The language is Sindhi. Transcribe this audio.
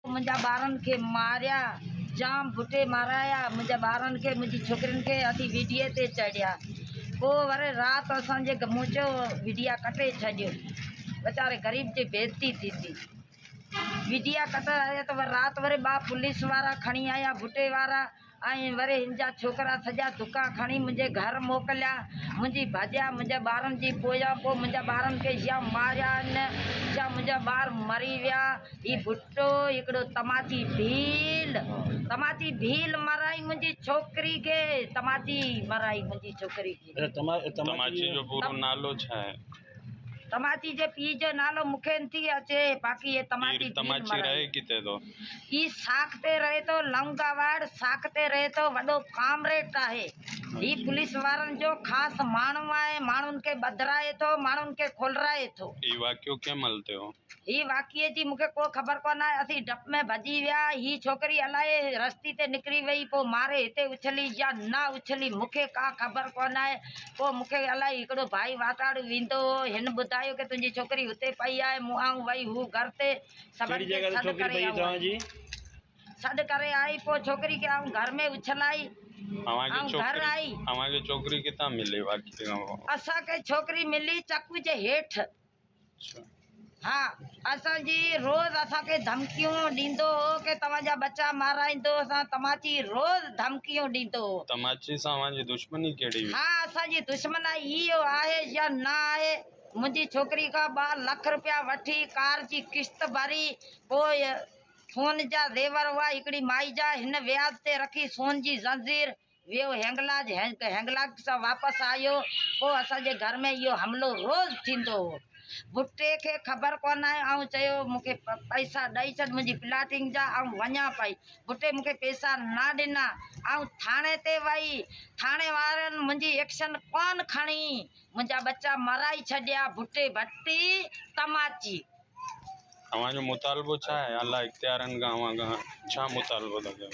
منهنجا ٻارن کي ماريا جام ڀٽي مارايا منهنجا ٻارن کي منهنجي ڇوڪرين کي اٿي ويڊيو تي چڙهيا پو وري رات اسان جي گموچو ويڊيا ڪٽي ڇڏيو ويچاري غريب جي بيزتي ٿيندي ويڊيا ڪٽي آيا ته رات وري ٻا پوليس وارا کڻي آيا ڀٽي وارا ۽ وري هن جا ڇوڪرا سڄا دڪا کڻي منهنجي گهر موڪليا. منهنجي ڀڄيا منهنجي ٻارن جي پويان پوء منهنجا ٻارن کي يا ماريا هن يا منهنجا ٻار مري ويا. هي ڀٽو هڪڙو تماچي ڀيل تماچي ڀيل مرائي منهنجي ڇوڪري کي تماچي مرائي منهنجي ڇوڪري کي. تماچي جو پورو نالو ڇا آهي؟ تماچي جي پيء جو نالو مون کي نٿي اچي، باقي هي تماچي پير تماچي پير مرائي. رهي ڪٿي ٿو؟ هي ساک تي رهي ٿو، لونگا واڙ ساک تي رهي ٿو، وڏو ڪامريڊ آهي. هي پوليس وارن جو خاص ماڻهو آهي، ماڻهن کي ٻڌرائي ٿو، ماڻهن کي کولرائي ٿو. هي واقعو ڪنهن مهل ٿيو؟ هي واقعي جي مون کي ڪو خبر ڪونه آهي، اسين ڊپ ۾ ڀڄي ويا، هي ڇوڪري الائي رستي تي نڪري وئي، پوء ماري هتي اڇلي يا نه اڇلي مون کي ڪا خبر ڪونه آهي، پوء مون کي الائي هڪڙو ڀائي واتاڙو ويندو هو، هن ٻڌايو ڪي تنهنجي ڇوڪري هتي پئي آهي، مون آئون وئي هو گهر تي سڀن کي سڏ ڪري آئون، سڏ ڪري آئي، پوء ڇوڪري کي آئون گهر ۾ اڇلائي، آئون گهر آئي. اسان کي ڇوڪري ملي چڪوء جي هيٺ. ها اسان جي روز اسان کي ڌمڪيون ڏيندو هو ڪي توهان جا ٻچا مارائيندو اسان تماچي روز ڌمڪيون ڏيندو هو. تماچي سان اوهان جي دشمني ڪهڙي هئي؟ ها اسان جي دشمنائي هي او آهي يا نه آهي منهنجي ڇوڪري کان ٻه لک روپيا وٺي ڪار جي قسط ڀري پوء سون جا زيور هئا هڪڙي مائي جا هن وياج تي رکي سون جي زنجير ويو هينگلاج هينگلاج کان واپس آيو پوء اسان جي گهر ۾ اهو حملو روز ٿيندو هو ڀٽي کي خبر ڪونه آهي آئون چيو مون کي پئسا ڏئي ڇڏ منهنجي پلاٽنگ جا آئون وڃان پئي ڀٽي مون کي پئسا نه ڏنا آئون ٿاڻي تي وئي ٿاڻي وارن منهنجي ايڪشن ڪونه کڻي منهنجا ٻچا مرائي ڇڏيا ڀٽي ڀٽي تماچي اوهان جو مطالبو ڇا آهي اعليٰ اختيارن کان اوهان کان ڇا مطالبو ٿا ڪيون